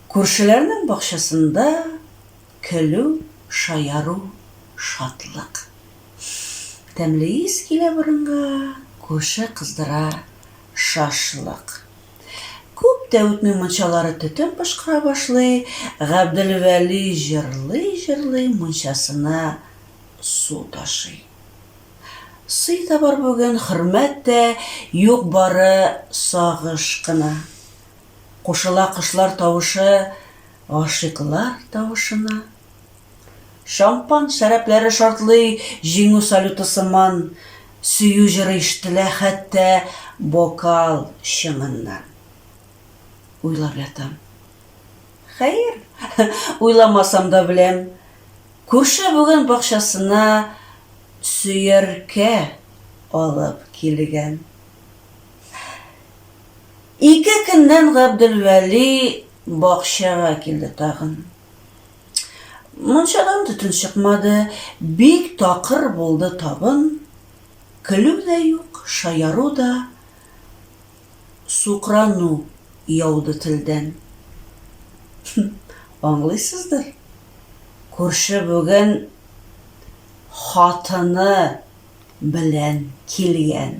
Күршеләрнең бакчасында көлү, шаяру, шатлык. Тәмле ис килә борынга, күрше кыздыра шашлык. Күп тә үтми мунчалары төтен пошкыра башлый, Габделвәли җырлый-җырлый мунчасына су ташый. Сый да бар бүген, хөрмәт тә юк бары сагыш кына. Кушыла кошлар тавышы гашыйклар тавышына. Шампан шәрәпләре шартлый җиңү салюты сыман, сөю җыры ишетелә хәтта бокал чыңыннан. Уйлап ятам. Хәер, уйламасам да беләм, Күрше бүген бакчасына сөяркә алып килгән. Ике көннән Габделвәли бакчага килде тагын. Мунчадан төтен чыкмады, бик такыр булды табын. Көлү дә юк, шаяру да. Сукрану яуды телдән. Хм, аңлыйсыздыр, күрше бүген хатыны белән килгән.